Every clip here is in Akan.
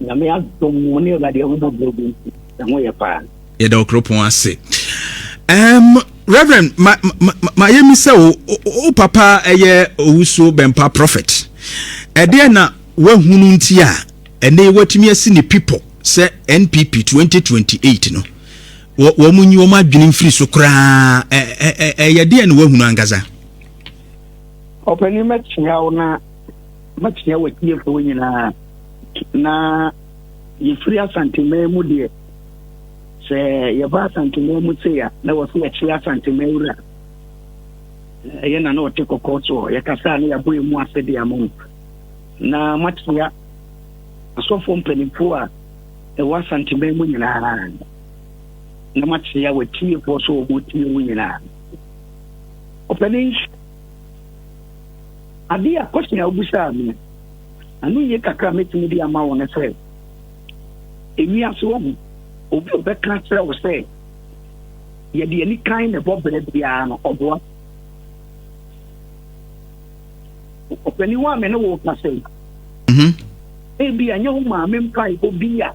Nyame adom mo ne Awurade ahu bɔbrɔ bi nti, ɛho yɛ paa. Yɛda wo kuropɔn ase. Um, Reverend, ma, ma, ma, ma yɛ mi sɛ wo, wo papa ɛyɛ owusuo bɛmpa prophet. Ɛdeɛ na wahunu nti a, ɛne watumi asi ne pipɔ sɛ NPP 2028 no, wɔn nyi wɔn adwene mfiri so koraa, ɛyɛ deɛ na wahunu ankasa. Ɔpanin mɛkyea wo na makyia wɔ tiefoɔ nyinaa na yɛfiri asantemaa mu deɛ sɛ yɛba asantemaa mu sei a na wɔsɛ yɛkyerɛ asantemaa wura ɛyɛ na na ɔte kɔkɔɔ soɔ yɛkasa a na yɛabɔ yɛ mu ase de ama mu na makyia asɔfoɔ mpanimfoɔ a ɛwɔ asantemaa mu nyinaa na makyia wɔatiefoɔ so wɔbɔtie mu nyinaa ɔpɛne Ade a question a wobisaa me no, ano yie kakra mɛtumi de ama wo no sɛ, ewiase wɔ ho obi a ɔbɛka kyerɛ wo sɛ yɛde ani kan na ɛbɔ berɛ biara no ɔboa ɔpanin wa me ne wo ka sɛ mhm. ebi anyɛ wo maame mpae obi a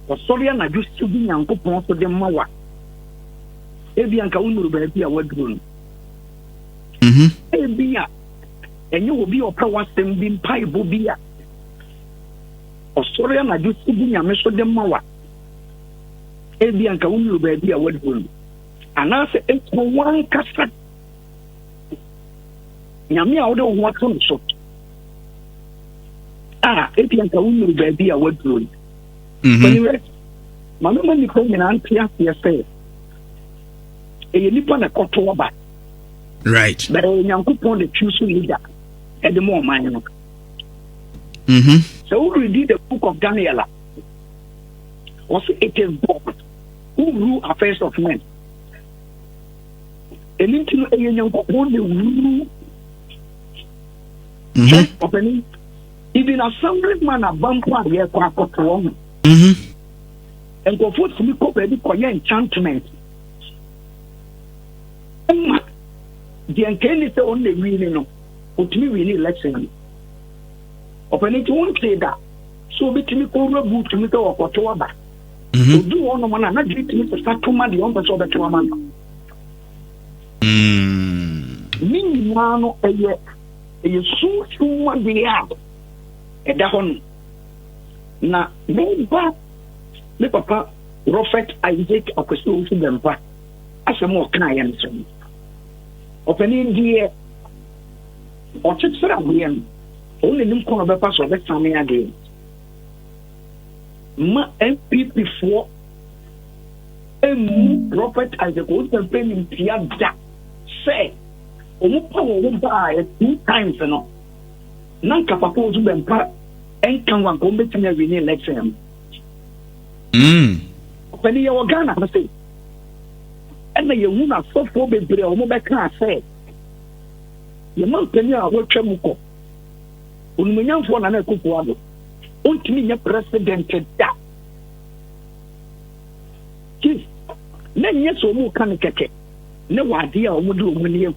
ɔsɔre anadwo si bi nyankopɔn so de ma wa ebi anka wo nuru baabi a waduro no mhm. ebi a ɛnyɛ obi a ɔpɛ w'asɛm bi mpaebɔ bi a ɔsɔre anadwo si bi nyame so de ma wa ebi anka wo nuru baabi a waduru no anaasɛ ekɔ wankasa nyame a wode wo ho ato no so a ebi anka wo nuru baabi a waduru no mhm. ma mema nnipa nyinaa nte aseɛ sɛ ɛyɛ nnipa na ɛkɔto aba right bẹẹ eh, nyankopɔn de twi so leader ẹde mọ ọman no mm-hmm. sɛ wo read the book of daniel a wɔsi it is god who rule affairs of men ɛni nti no ɛyɛ nyankopɔn de wuru ɔpɛni even assembly man abampo a yɛkɔ akɔtoɔ ho nkurɔfoɔ tumi kɔ baabi kɔyɛ enchantment ɛma deɛ nkae ni sɛ ɔno na ɛwini no ɔtumi wini election no ɔpɛne nti wontee da sɛ ɔbɛtumi kɔwura bu tumi sɛ ɔkɔto aba mhm. ɔdu hɔ nom no a na dwene tumi sesa to ma deɛ ɔmpɛ sɛ ɔbɛto ama no mm. ne nyinaa no ɛyɛ ɛyɛ sunsum adeɛ a ɛda hɔ no na meba me papa Prophet Isaac Akwasi Owusu Bɛmpa asɛm a ɔkaa yɛn so no, ɔpanin deɛ ɔkyekyere adeɛ no, ɔno na nim kwan a ɔbɛfa so ɔbɛsane adeɛ ma npp foɔ ɛmmu Prophet Isaac Owusu-Mfɛn nim tia da sɛ wɔn pa wɔn ho baayɛ two times no na nka papa Owusu bɛmpa nka ho anka wɔn bɛtumi awi ne election no. Mm. Ɔpani yɛwɔ Ghana ha sei. Ɛna yɛhu no asɔfoɔ bebree a wɔbɛkaa sɛ yɛma mpanin a wɔatwa mu kɔ onumonyamfoɔ Nana Akufo-Addo ɔntumi nyɛ president da chief na nyɛ sɛ wɔn ka no kɛkɛ ne wɔ adeɛ a wɔde wɔn ani agu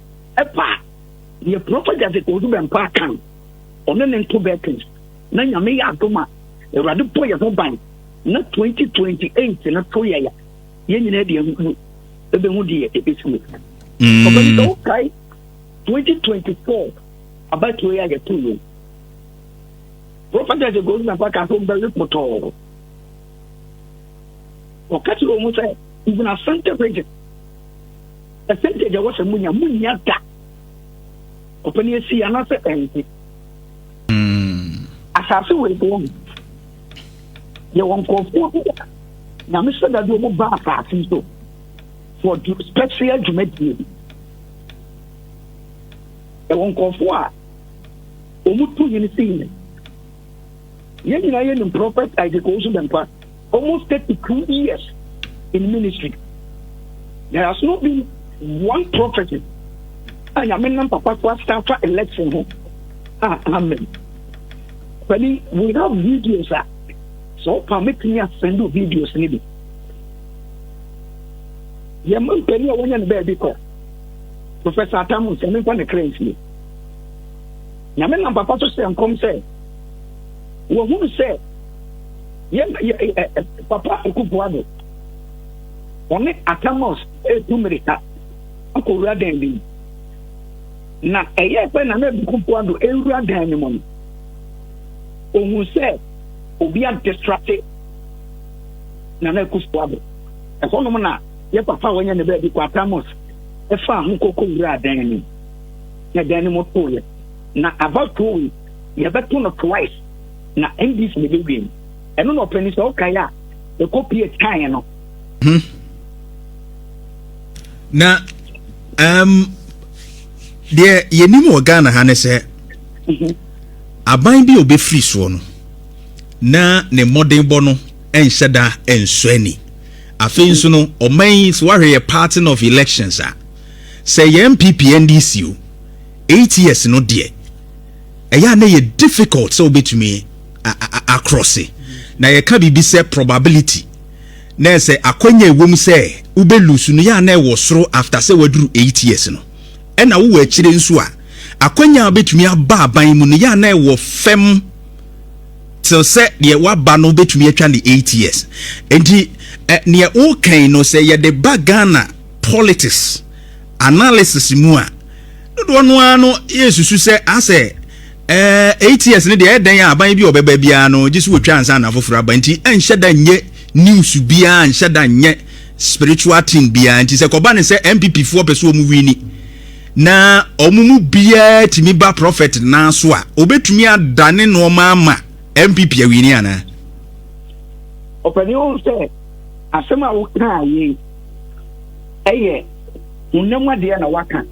ɛba a, deɛ Prɔfɛt Jessica Oduber-Mpa aka no, ɔne ne nto bɛɛten, na Nyame yɛ adom a, Awurade bɔ yɛn ho ban, na 2028 no to yɛn a, yɛn nyinaa deɛ hu ɛbɛhu deɛ ɛbɛsi mu. Mm. Ɔbɛni sɛ wokae 2024 abatuo yɛ a yɛto mu. Prɔfɛt Jessica Oduber-Mpa ka sɛ ɔmbɛwe potɔɔ. Ɔka kyerɛ wɔn sɛ, even Asante region, Percentage a wɔsɛ munya munya da ɔpɛ ne esi anaasɛ ɛnte hmm. asase wɔ ebo wɔn yɛwɔ nkurɔfoɔ bi a nyame sɛ dade ɔmo ba asase so for special dwumadie bi ɛwɔ nkurɔfoɔ a ɔmo tu yɛn si yɛn yɛn nyinaa yɛ nim prɔfɛt isaac owusu bɛnkwa almost 32 years in ministry there has not been one prophecy a nyame nam papa so asan fa election ho a amen pɛni we have videos a sɛ wopa mɛtumi asɛndo videos no bi yɛma mpani a wɔnyɛ no baabi kɔ professor atam sɛ memfa ne kra nsie nyame nam papa so hyɛ nkɔm sɛ wɔhunu sɛ yɛn papa Akufo-Addo wɔne Atamos retu mmirika akɔwura dan bi mu. Na ɛyɛ pɛ na Nana Akufo-Addo rewura dan no mu no, ohun sɛ obi adistrate Nana Akufo-Addo. Ɛhɔnom na yɛ papa a wɔnyɛ ne baabi kɔ Atamos ɛfa ho kɔkɔ wura dan no mu. Na dan no mu too yɛ. Na about two weeks yɛbɛto no twice na NDC na ɛbɛ win ɛno na ɔpɛni sɛ ɔkae a ɛkɔ pie taeɛ no. Hmm. na um, deɛ yɛnim wɔ ghana ha ne sɛ mhm. aban bi a ɔbɛfiri soɔ no na ne mmɔdenbɔ no nhyɛ da nsɔ ani afei mhm. nso no ɔman yi so wahwɛ yɛ parting of elections a sɛ yɛn npp ndc o eight years no deɛ ɛyɛ a na ɛyɛ difficult sɛ wobɛtumi akrɔse na yɛka biribi sɛ probability na sɛ akwanya ɛwom sɛ wobɛlusu no yɛ a na ɛwɔ soro after sɛ waduru 8 years no ɛna wowɔ akyire nso a akwanya a wobɛtumi aba aban mu no yɛ a na ɛwɔ fam te sɛ deɛ waba no wobɛtumi atwa ne 8 years nti neɛ wokan no sɛ yɛde ba Ghana politics Analysis mu a, dodoɔ no ara no yɛresusu sɛ asɛ ɛɛ eight years no deɛ ɛyɛ dɛn a aban bi a ɔbɛba biara no gye sɛ wɔtwa ansa na afoforɔ aba nti ɛnhyɛ da nyɛ news biara nhyɛ da nyɛ spiritual thing biara nti sɛ kɔba ne sɛ NPP foɔ pɛ sɛ wɔn wini na wɔn mu biara tumi ba prophet naa so a wɔbɛtumi adane nneɛma ama NPP awini anaa. Ɔpɛni o sɛ asɛm a wokaa yei yɛ honam adeɛ na waka,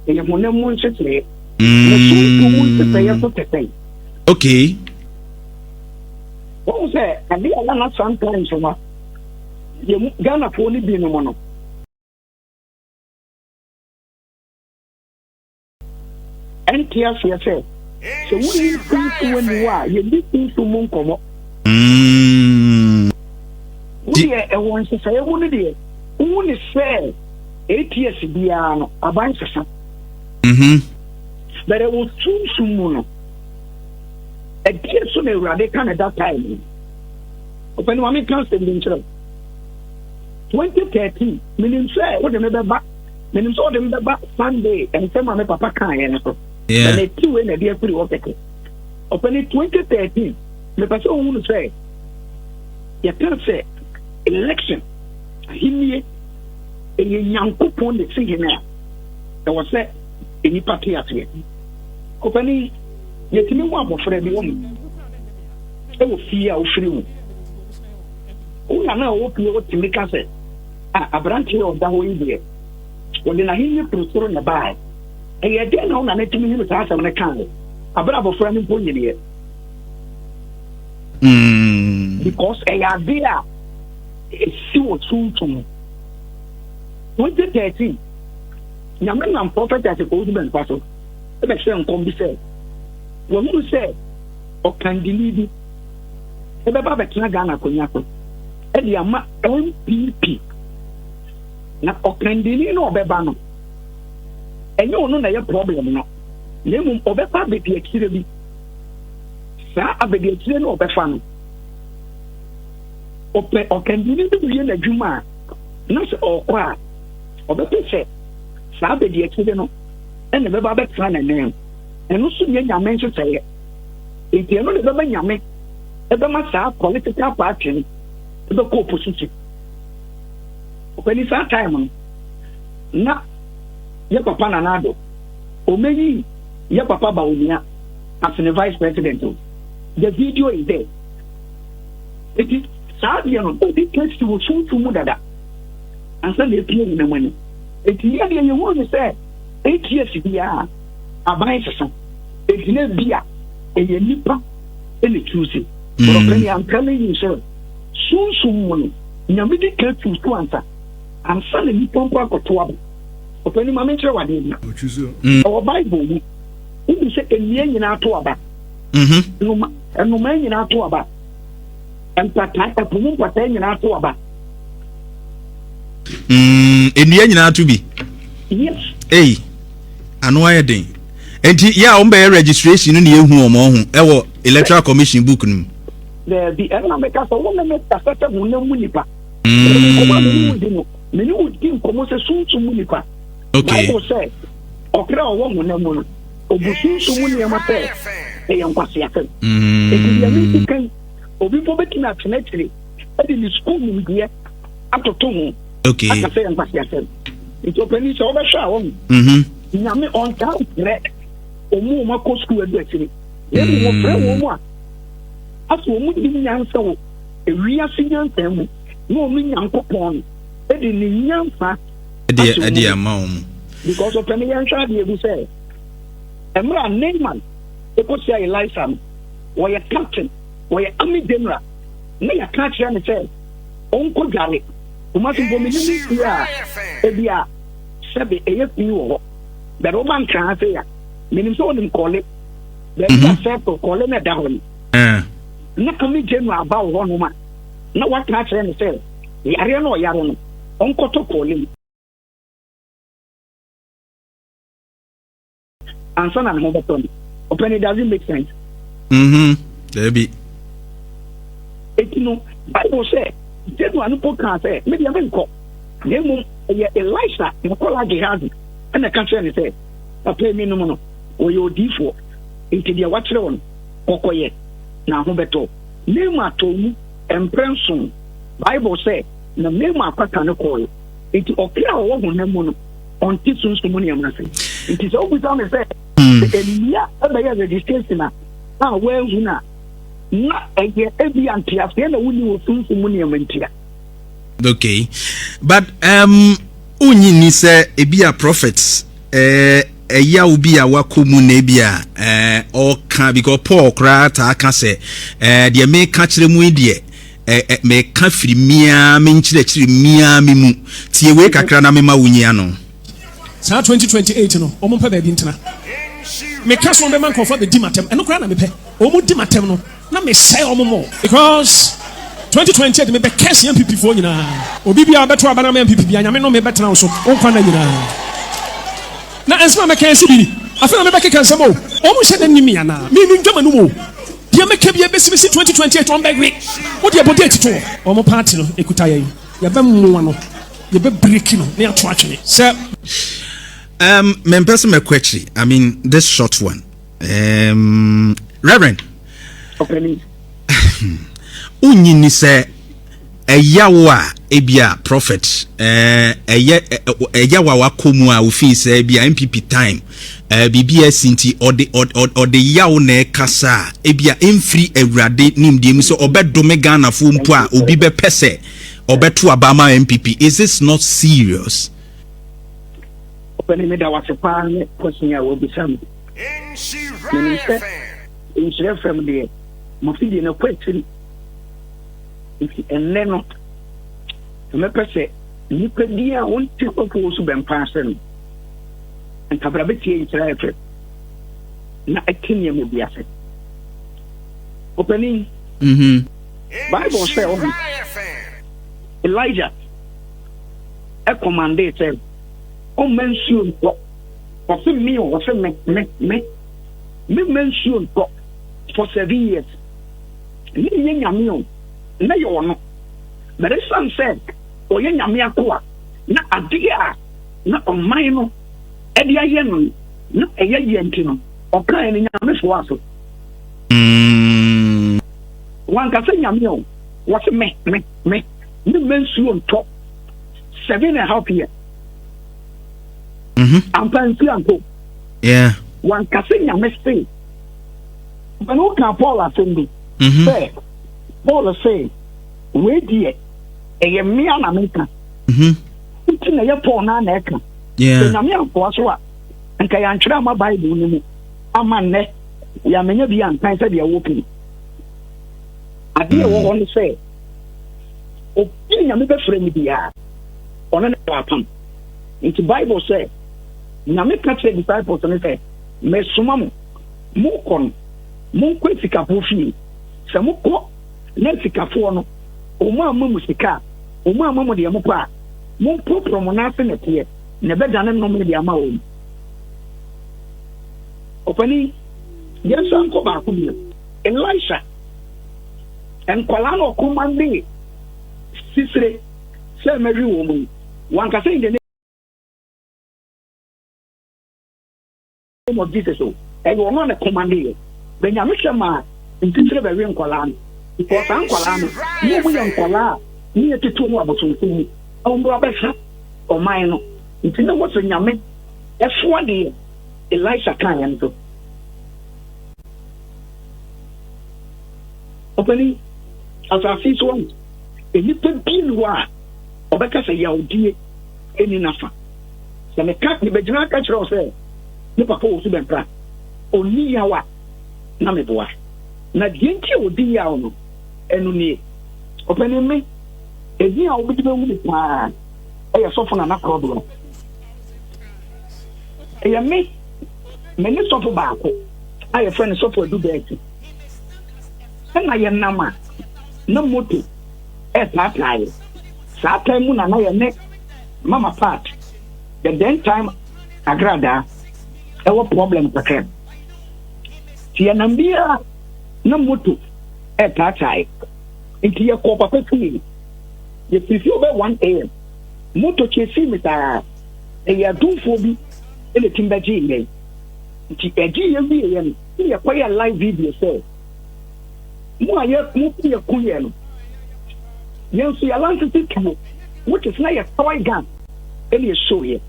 ɛyɛ honam mu nhyehyɛeɛ. Mm. Na sunsun mu nhyehyɛeɛ nso te sɛn? Okay. Wɔn sɛ ade a nana sometimes no yɛ mu Ghanafoɔ no bi nom no. ɛnte aseɛ sɛ sɛ wonni mfomso w'ani wɔ a yɛdi mfomso mu nkɔmmɔ mm. wodeɛ ɛwɔ nsesaeɛ mu no deɛ wohu ne sɛ ats biara no aban sesa mm-hmm. but ɛwɔ sunsum mu no ɛdeɛ so na awurade ka ne da time no ɔpɛ ne ma meka asɛm bi nkyerɛ 2013 menim sɛ wode me bɛba menim sɛ ɔde m bɛba sunday nsɛm a me papa kaeɛ no so na meti wei na ɛde afiri hɔ kɛkɛ ɔpɛ ne 2013 mepɛ sɛ ɔhu no sɛ yɛpɛ sɛ election ahennie ɛyɛ nyankopɔn ne si hene a ɛwɔ sɛ nnipa te aseɛ ɔpɛ ne yɛtumi wɔ abɔfra bi wɔ mu ɛwɔ fie a wofiri mu wona na ɔwɔ pie wotumi ka sɛ Ah, aberante a ɔda hɔ yi deɛ, wɔde n'ahenni firi soro na ɛbaeɛ. Ɛyɛ dɛn na wo nana tumi hunu saa asɛm no kaeɛ abere abɔfra no mpo nyineɛ? Mm. Because ɛyɛ ade a ɛsi wɔ suntum. 2013, Nyame nam prɔfɛt Asekɔwodi Bɛnkwa so ɛbɛhyɛ nkɔm bi sɛ, wahunu sɛ ɔkandini bi ɛbɛba abɛtena Ghana akonnwa so ɛde ama NPP na ɔkandini no ɔbɛba no ɛnyɛ ɔno na ɛyɛ problem no na mmom ɔbɛfa abɛdi akyire bi saa abɛdi akyire no ɔbɛfa no ɔpɛ ɔkandini no wie n'adwuma a na sɛ ɔkɔ a ɔbɛpɛ sɛ saa abɛdi akyire no ɛna ɛbɛba abɛtena n'anan ɛno so nyɛ nyame nhyehyɛeɛ nti ɛno na ɛbɛma nyame ɛbɛma saa political party no ɛbɛkɔ opposition ɔpɛni saa time no na yɛ papa nana ado ɔmɛyi yɛ papa ba onua as ne vice president o the video is there nti saa deɛ no obi kɛsi wɔ sunsun mu dada ansa na epie nyinam ani nti yɛ deɛ yɛhunu ne sɛ ats biara aban sesa egyina bi a ɛyɛ nipa ɛna tu si wɔpɛ ni ampɛ ne yi sɛ sunsun mu no nyame di ka tu so ansa ansa na nipa mpo akɔto abo ɔpɛ ni maame nkyerɛ wadeɛ bi ɛwɔ bible mu wobu sɛ nnua nyinaa to aba nnomaa nyinaa to aba mpataa ɛpo mu mpataa nyinaa to aba nnua nyinaa to bi yes. Hey. ano ayɛ den nti yɛ a wɔn bɛyɛ registration no na yɛhu wɔn ho ɛwɔ electoral commission book no mu. daabi ɛna meka sɛ wo ne me kasa sɛ ho na mu nipa nkɔmɔ a mene wodi no mene wodi nkɔmɔ sɛ sunsun mu nipa bible sɛ ɔkra ɔwɔ ho na mu no obu sunsun mu nneɛma sɛ ɛyɛ nkwaseasɛm ɛti deɛ menti kan obi mpo bɛtumi atena akyire ɛde ne sukuu nimdeɛ atoto ho okay aka sɛ nkwasi asɛm nti ɔpanyin sɛ ɔbɛhwɛ a wɔn mhm. nyame ɔntaa mfrɛ wɔn a wɔakɔ sukuu adu akyire na emu wɔfrɛ wɔn mu a afei wɔn nim nyansa wɔ ewiase nyansa mu na wɔn nyankopɔn no de ne nyansa ahyɛ wɔn mu ama wɔn because ɔpanyin yɛn hwɛ adeɛ bi sɛ mmerɛ a neyman ɛkɔsi a elisa no wɔyɛ captain wɔyɛ army general na yɛka kyerɛ ne sɛ ɔnkɔ dware kumasi mpo mi ni fi a ebi a sɛbi ɛyɛ fi wɔ hɔ bɛrɛ ɔba nkran ase ya menim sɛ ɔnim kɔle bɛbi mhm. a sɛto kɔle na ɛda hɔ no eh. na kame gyenu aba wɔ hɔ noma na waka akyerɛ no sɛ yareɛ no ɔyare no ɔnkɔtɔ kɔle mu ansa na ne ho bɛtɔ no ɔpɛ no does it make sense mhm daabi eti no bible sɛ jesu ano po kaa sɛ me deɛ menkɔ na mmom ɛyɛ elisa na ɔkɔla gehazi ɛna ɛka kyerɛ ne sɛ papa emi nom no ɔyɛ odiifoɔ nti deɛ wakyerɛ wɔn kɔkɔyɛ na ho bɛtɔ nneɛma atɔ mu mprɛ nson bible sɛ na nneɛma akwata no kɔɔyɛ nti ɔkra a ɔwɔ honam mu no ɔnte sunsum nneɛma ase nti sɛ wobisa me sɛ mmea hmm. bɛyɛ registration a a wɔahu no a na ɛyɛ ebi anteaseɛ na wonni wɔ sunsum mu nneɛma ntia okay but um wonyi ni sɛ ebi a prophets eh, ɛya wo bi a wakɔ mu na ebi a eh, ɔka because paul koraa taa ka sɛ eh, deɛ meka kyerɛ mu yi deɛ Eh eh meka firi me ara me nkyerɛkyerɛ me ara me mu. Tie wei kakra na mema wo nyi ano. Saa 2028 no wɔn mpɛ baabi ntena. Me ka so wɔn bɛma nkorɔfoɔ abɛdi m'atɛm. Ɛno koraa na me pɛ. Wɔn di m'atɛm no na me sɛe wɔn more. Because 2028 me bɛ curse NPP foɔ nyinaa. Obi biara ɔbɛto aba na ama NPP biara Nyame nome bɛtena wo so wo nkwa nna nyinaa. Na nsɛm a mɛka yi si bi ni. Afei na me bɛkeka nsɛm o. Wɔn nhyɛ da nni me anaa? Me nim dwama no mu o. Deɛ mɛka bia bɛsi bɛsi 2028 wɔn bɛwe wode ɛbɔ date to hɔ. Wɔn party no ɛkuta yɛn yɛbɛmoa no yɛbɛbreki no na yɛato atwene sɛ. Um, mempɛ sɛ mɛkɔ akyiri I mean this short one um, Reverend wonyi ni sɛ Ɛyaw a ebia prophet ɛɛ ɛyɛ ɛyaw a wakɔ mu a ofii sɛ ebia NPP time ɛɛ biribi a ɛsi nti ɔde ɔde yaw na ɛkasa a ebia mfiri awurade nimdeɛ mu sɛ ɔbɛdome Ghanafoɔ mpo a obi bɛpɛ sɛ ɔbɛto aba ama NPP is this not serious? Ɔpɛni meda wase paa ne kɔsin a wɔbisa mu menim sɛ nhyerɛ fam deɛ mafidie no kɔ akyiri Nti ɛnnɛ no, sɛ mɛpɛ sɛ nnipa din a wonte kɔkɔɔ so bɛmpa ase no, ntabra bɛtie nkyerɛ ayɛ fɛ na ɛte nneɛma bi ase. Ɔpanin, mm-hmm. Bible sɛ ɔho Elijah ɛkɔmande sɛ ɔmma nsuo ntɔ ɔse me ɔse me me me me mma nsuo ntɔ for seven years Nnɛ yɛyɛ Nyame o, nnɛ yɛwɔ no, but ɛsiane sɛ ɔyɛ Nyame akoa na adeɛ a na ɔman no de ayɛ no na ɛyɛ yɛ nti no, ɔkaa yɛn Nyame foaa so. Mm. Wanka sɛ Nyame o, wɔse me, me, me, ne mma nsuo ntɔ seven and half year. Mm-hmm. Ampa nsuo anko. Yeah. Wanka sɛ Nyame se Mani wo kaa Paul asɛm bi mhm. sɛ Paul sɛ wei deɛ ɛyɛ mmea na meka mhm. nti na ɛyɛ Paul naa na ɛka sɛ nyame ankoa so a nka yɛantwerɛ ama Bible no mu ama nnɛ yɛamanya bi ankan sɛdeɛ ɛwɔ pii adeɛ ɛwɔ hɔ no sɛ obi a nyame bɛfrɛ no biara ɔno ne wɔ apam nti Bible sɛ nyame ka kyerɛ disciples no sɛ mesoma mo Morekɔ no, monkɔ asikafoɔ fie. Sɛ mokɔ na asikafoɔ no, wɔamma mo sika a, wɔamma mo deɛ mopɛ a, momporoporo mo nan ase nnɛteɛ, na ɛbɛdane nnome de ama wɔn. Ɔpanin, yɛnsan nkɔ baako bio. Elisha, nkwadaa na ɔkɔmandee Sisire sɛ mɛwe wɔn yi, wanka sɛ in the name. name of Jesus o ɛyɛ ɔno a ne kɔma ne yɛ bɛ nyame hwɛ maa ntitire bɛwe nkwadaa no because saa nkwadaa no mo ɔmo yɛ nkwadaa a ne yɛ tete ɔmo abosomfo mu ɔmo bɛ abɛhwɛ ɔman no nti ne mo so nyame ɛsoa deɛ Elisha kan yɛn so ɔpɛni asase so ɔmo nnipa bi ni hɔ a ɔbɛka sɛ yawdie ɛni nafa. Sɛ meka mebegyina aka kyerɛ wo sɛ me papa wɔ su bɛn koraa a, ɔnni yaw a, na meboa. Na deɛ nti a ɔdi yaw no, ɛno nie. Ɔpanin me, ɛdin a wobɛdi bɛhu me paa yɛ Sɔfo Nana Korɔdoa. Ɛyɛ me, me ne sɔfo baako a yɛfrɛ no Sɔfo Adu Bɛɛti. Ɛna yɛnam a, na moto ɛɛpaapaa yɛ. Saa tan mu na na yɛne Mama part the den time agradaa ɛwɔ problem kakra ti yɛnam biara na moto ɛtaatae nti yɛkɔ papa fie yɛfiri fie bɛ 1 am moto kyesii me saa ɛyɛ adomfoɔ bi ɛna tim bɛgyee yɛn nti ɛgye yɛ wieɛ no ne yɛkɔyɛ live video sɛ mo a yɛ mo ti yɛ kun yɛ no yɛn nso yɛ alansisi tuo which is na yɛ tawai gan ɛna yɛ show yɛ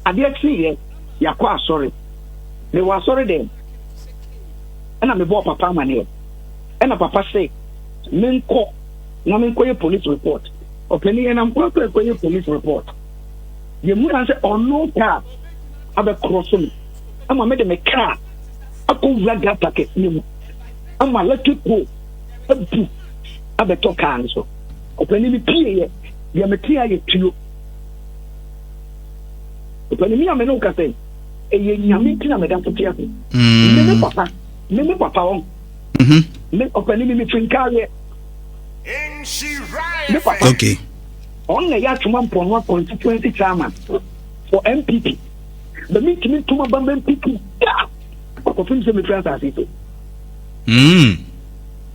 adeɛ kyi yɛ yakɔ asɔre me wɔ asɔre dɛ ɛna me bɔɔ papa ama ne yɛ ɛna papa se me nkɔ na me nkɔ yɛ police report ɔpɛni yɛ na nkɔ akɔ akɔ yɛ police report yɛ mu na sɛ ɔno kaa abɛkorɔ so me ama me de me kaa akɔwura gata kɛseɛ mu ama electric pole abu abɛtɔ kaa no so ɔpani no pieeɛ deɛ mete ayɛ tuo ɔpani mi a me ne woka sɛ ɛyɛ nyame nti na meda so te ase mm. me ne papa me ne papa wɔn mm-hmm. me ɔpani mi mefiri nkaareɛ me papa ɔn na ɛyɛ atwoma mpɔnoa constituency chairman for mpp na mentumi ntom aba mampiti da akɔpem sɛ mefiri asase so hmm.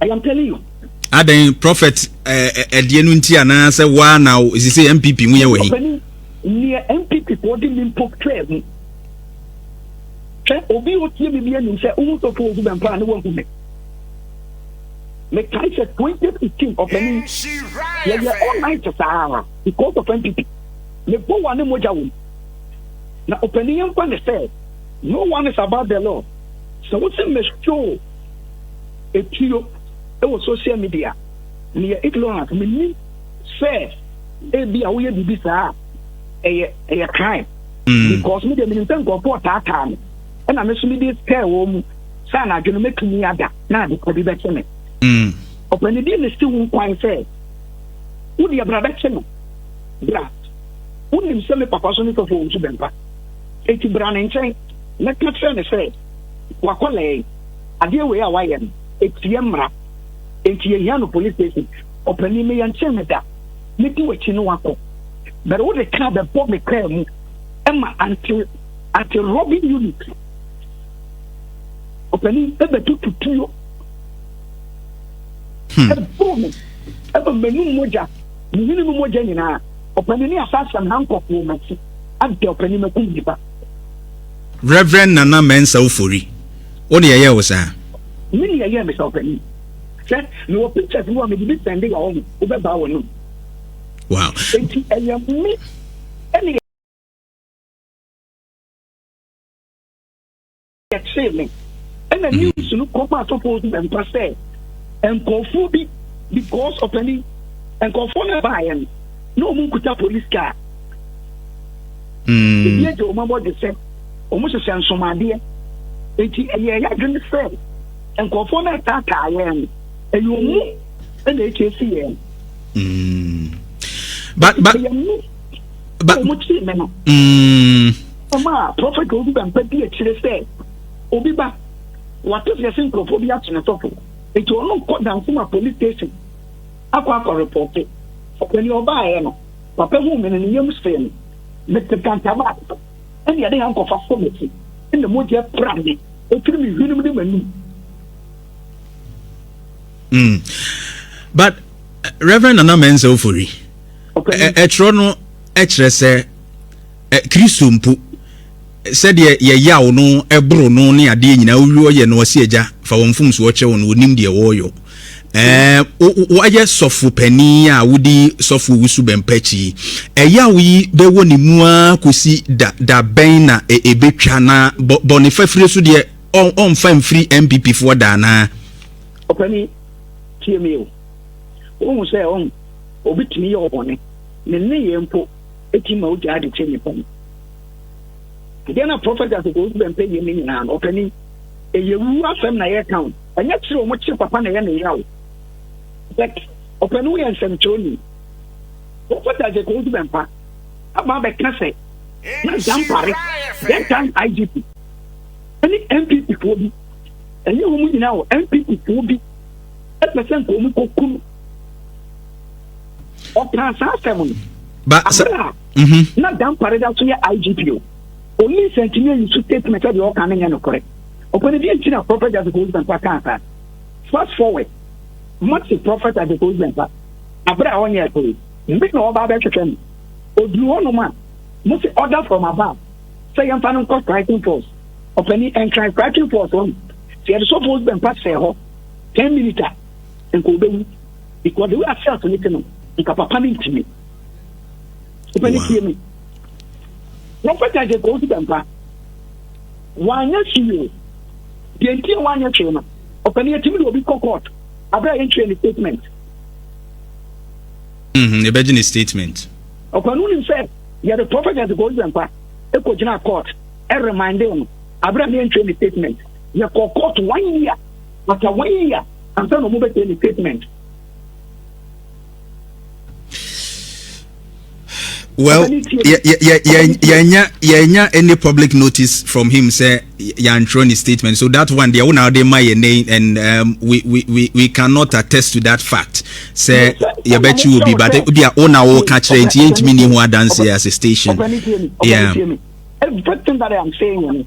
I am telling you adɛn prophet ɛdeɛ eh, eh, no nti anaasɛ woa na ɛsi sɛ mpp mu yɛ wɔ he neɛ mpp foɔ de me mpo twaa mu hwɛ obi ɔtie me bi anim sɛ wohu sɔfo ɔgu bɛmpa a ne wahu me mekae sɛ 2015 ɔpani yɛyɛ all night saa because of mpp mebɔ wa ne mogya wɔ mu Na ɔpanin yɛn nkwa ne sɛ, no one is about the law. Sɛ wo se mɛhwoo etuo wɔ social media, meyɛ ignorant, menim sɛ ebi a woyɛ biribi saa ɛyɛ ɛyɛ crime. Mm. Because me deɛ menim sɛ nkurɔfoɔ taataa me, ɛna me so mede kɛɛ wɔn mu sɛ anadwo no mɛtumi ada na adepa bi bɛkye me. Mm. Ɔpanidi ne si wo nkwan sɛ, wo deɛ bra bɛkye no, bra. Wonim sɛ me papa so ne fɛfoɔ nso bɛmpa. Enti bra ne nkyɛn na ka kyerɛ no sɛ, 'W'akwadaa yi, adeɛ wei a wayɛ no, ɛtia mmara. Enti yɛhia no polis station. Ɔpanin, me yɛnkyee no da. Mɛdi w'akyi ne woakɔ. But wode kaa bɛbɔ me kaa mu ma anti, anti-robbing unit, ɔpanin, bɛtutu tuo. Hmm. Ɛboro me, ɛma m'anum mogya. Ne hene mu mogya nyinaa. Ɔpanin ne asaseɛm ha nkɔfoɔ mati adɛ ɔpanin makum nnipa. Rev Nana Mensah Ofori wo deɛ ɛyɛɛ wo saa? Me deɛ ɛyɛɛ me saa ɔpanin. Hwɛ mewɔ pictures mu a mede bi sɛnde wa wɔn wobɛbaa wɔn nom. Wow. Enti ɛyɛ me ɛne yɛkyee me. Ɛna mm. news no kɔma asɔfoɔ so bɛmpa sɛ nkurɔfoɔ bi because ɔpani nkurɔfoɔ no baeɛ no na ɔmu nkuta police car mm. ebi agya ɔma bɔdwe sɛ ɔmo hyehyɛ nsomadeɛ nti ɛyɛ ɛyɛ adwene sɛ nkurɔfoɔ no ɛtaataa yɛn no ɛyɛ ɔmu ɛna ɛkyɛ si yɛn mm. but but ɛyɛ mu ɔmo kyee me no mm. Ɔma prɔfɛt Odu Dankwa di akyire sɛ, Obi ba, wate sɛ yɛse nkurɔfoɔ bi akye ne sɔfo, enti ɔno nkɔ Dansema Police Station akɔ akɔ repɔte. Ɔpani ɔbaeɛ no, papa huu me no ne yam hyee me. Mete Kantaman no, ɛnna yɛde hankɔfa sɔ m'akyi, ɛnna mogya pira me firi me hwenem ne m'anum. Mm. But Reverend Nana Mensah Ofori, ɛtwerɛ no kyerɛ sɛ Kristo mpo, sɛdeɛ yɛyaw no, boro no, ne adeɛ nyinaa, wowie wɔyɛ no, ɔse, Agya, fa wɔn mfomsoɔ kyɛ wɔn, wɔnnim deɛ wɔreyɔ. Ɛɛ, woayɛ sɔfo panin a wodi sɔfo owusu bɛmpa akyi yi, ɛyaw yi bɛwɔ ne mu ara kɔsi da, da bɛn na ɛbɛtwa, na bɔne fafire so deɛ, ɔmfa mfiri NPP foɔ da anaa? Ɔpanin, tie me o, wonhu sɛ ɔn, obi tumi yɛ wo bɔne, ne nneyɛɛ mpo, ɛtumi ma wogyaa de kyɛ nnipa mu. Ɛdeɛ na prɔfɛt asɛkɔ wosu bɛ mpɛ yie ne nyinaa no ɔpani ɛyɛ wu asɛm na yɛka wo ɛnyɛ kyerɛ ɔmo kye papa na ɛyɛ ne yaw but ɔpani woyɛ nsɛmkyerɛni prɔfɛt asɛkɔ wosu bɛ mpa aba bɛka sɛ na dampare that time igp ɛne npp foɔ bi ɛnyɛ wɔn nyinaa o npp foɔ bi ɛpɛ sɛ nka ɔmu kɔku no ɔkaa saa asɛm no aberɛ a mhm. na dampare da so yɛ igp o police ntumi ayi so statement sɛ deɛ ɔka no nyɛ nokorɛ ɔpɛne deɛ nti na prophet adekoyi sɛmpa kaa saa fast forward mate prophet adekoyi sɛmpa aberɛ a ɔnyɛ ɛkɔre mbe na ɔba bɛhwehwɛ no ɔduru hɔ nom a mo se order from above sɛ yɛmfa no nkɔ striking force ɔpɛne ɛnkran striking force ɔno sɛ yɛde sɔfoɔ sɛmpa sɛ hɔ ten minutes a nka obewu because the way ase ato ne te no nka papa ne ntumi papa ne tie no prɔfɛt agye kɔn ti dɛmpa wanyɛ hwee deɛ nti a wanyɛ hwee no ɔpɛ ne yɛtumi de obi kɔ court abira yɛn twɛ ne statement. Mm-hmm. yɛbɛgye ne statement. ɔpɛ no nim sɛ yɛde prɔfɛt agye kɔn ti dɛmpa ekɔ gyina court ɛremande no abira ne yɛn twɛ ne statement. Yɛkɔɔ court one year, after one year ansa na wɔbɛsɛe ne statement. well yɛnya any public notice from him sɛ yɛantwerɛ ne statement so that one deɛ wona wode ma yɛ name and um, we, we, we, we cannot attest to that fact sɛ yɛbɛkye wɔ bi but obi a wona woka kyerɛ nti yɛntumi ni ho adanseɛ as a station yeah. Everything that I am saying,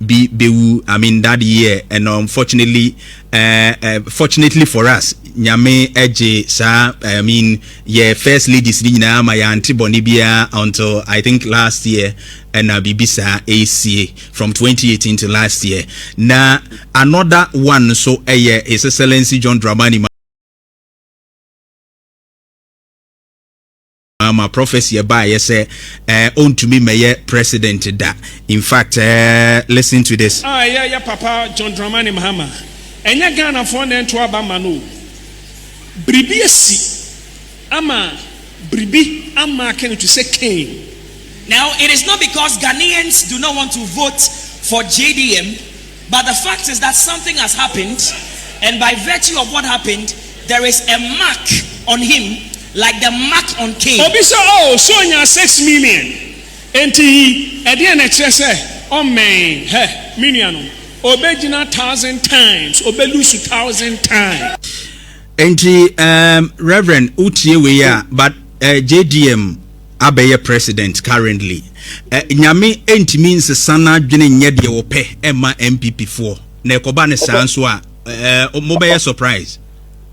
bi bɛwu I mean that year and unfortunately eh, fortunately for us nyame ɛgye saa I mean yɛ first ladies ni nyinaa ma yɛante bɔne biara until I think last year ɛna biribi saa ɛsie from 2018 to last year na another one nso ɛyɛ His Excellency John Dramani ama prophecy ɛbaayɛ sɛ ɛɛ ɔntumi mɛyɛ president da in fact ɛɛ listen to this. Ah, ɛyɛ yɛ papa John Dramani Mahama ɛnyɛ Ghanafoɔ na ɛnto aba ma no o biribi asi ama biribi amaake no to sɛ Cain. Now it is not because Ghanaians do not want to vote for JDM. But the fact is that something has happened and by virtue of what happened there is a mark on him like the mark on Cain. Obi sɛ oh so ɔnyaa sex million enti yi ɛdeɛn na ɛkyerɛ sɛ ɔmmɛn hɛ me nuanom ɔbɛgyina thousand times ɔbɛ lose thousand times. Enti ehm Reverend wo tie wei a but JDM. abɛyɛ president currently eh, nyame ntumi nsesa n'adwene nyɛ deɛ wɔpɛ ɛma npp foɔ na ɛkɔba ne saa nso a eh, mobɛyɛ surprise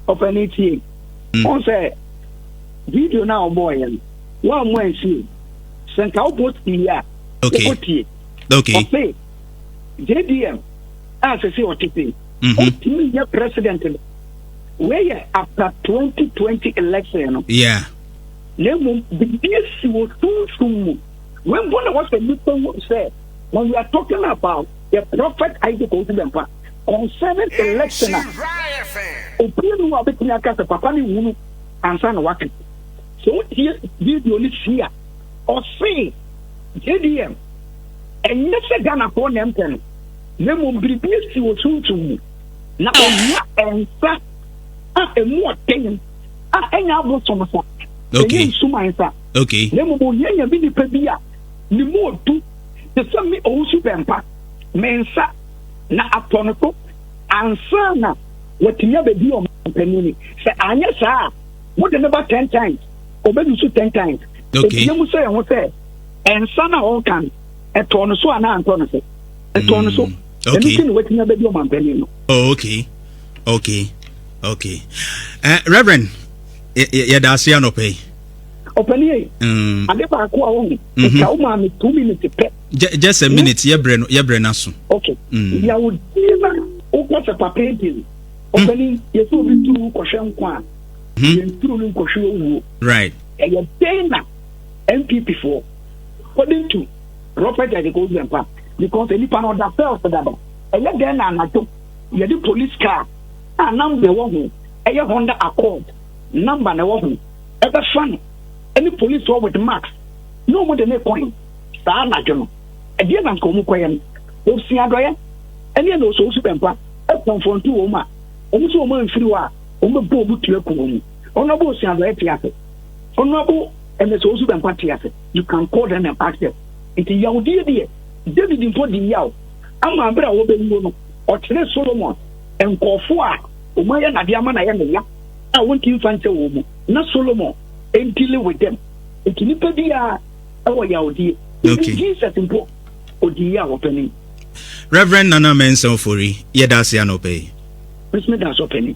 ɔpɛne tie mm. ɔn sɛ video no a ɔbɔɔyɛ no woammo ansie sɛ nka wobɔ tie a wokɔtie ɔse jdm a sɛ sɛ ɔtete ɔtumi yɛ president no wei yɛ after 2020 election no yeah. na mmom biribi asi wɔ sunsum mu. Wei mpo na wɔsɛ nnipa hu sɛ when we are talking about the prophet Isaac Owusu Bempah concerning election a obi nu a obetumi aka sɛ papa ne hunu ansa na waka. Sɛ wotie video no si a ɔse JDM ɛnyɛ sɛ Ghanafoɔ na ɛmpɛ no na mmom biribi asi wɔ sunsum mu na ohia nsa a emu ɔden a ɛnyɛ abosom sa ɛnyɛ nsuman sa na mmom ohia nyame nipa bi a ne mu odu te sɛ me owusu bɛmpa me nsa na atɔ no so ansa na watumi abɛdi ɔmampanin ni sɛ anyɛ saa a wode ne ba ten times ɔbɛdu so ten times ɛbia mu sɛ ɛho sɛ ɛnsa na ɔnka no ɛtɔ no so anaa antɔ no so ɛtɔ no so ɛno sɛ ne watumi abɛdi ɔmampanin no oh, okay okay okay uh, reverend yɛda ase anɔpɛ yi ɔpɛni yɛ mm. ade baako a wɔn mhm. ɛka wo maa mi two minutes pɛ just a minute hmm? yɛbrɛ no yɛbrɛ no aso okay mm. yàwó die na wokɔ sɛ papa ebien ɔpɛni hmm? yɛsɛ obi turu kɔhwɛ nkwa a hmm? yɛn turu no nkɔhwɛ owuo right ɛyɛ dɛn na npp foɔ according to robert adekoya mpa because nipa na ɔda fɛl so dada ɛyɛ dɛn na anadwo Yɛde police car a number a ɛwɔ ho yɛ Honda Accord number na ɛwɔ ho bɛfa no ne police hɔ with marks na wɔde no kɔe. Saa anadwo no, ɛdeɛn na anka wɔkɔyɛ no? Wɔsua adɔeɛ ne ɛna wɔsɔ wɔsu bɛmpa kɔnfrɔnto wɔn a wɔn sɛ wɔn amfiri hɔ a wɔbɛbɔ wɔn tu aku wɔn. Honourable Osua Adɔeɛ te ase. Honourable Ɛmɛsɛ Osu Bɛmpa te ase. You can call them and ask them. Nti yawdeɛ deɛ David mpo di yaw. ama bere a wɔbɛwuo no, ɔkyeree Solomon nkurɔfoɔ a wɔayɛ no adeɛ ama no ayɛ no ya a wɔnti mfa nkyɛ wɔn mu, na Solomon ɛndili with them. Nti nipa biara ɛwɔ yawdie. Even Jesus mpo, ɔdii yɛ a wɔpɛne. Reverend Nana Mensah Ofori, yɛda ase anɔpa yi. Mesome da ase ɔpɛne.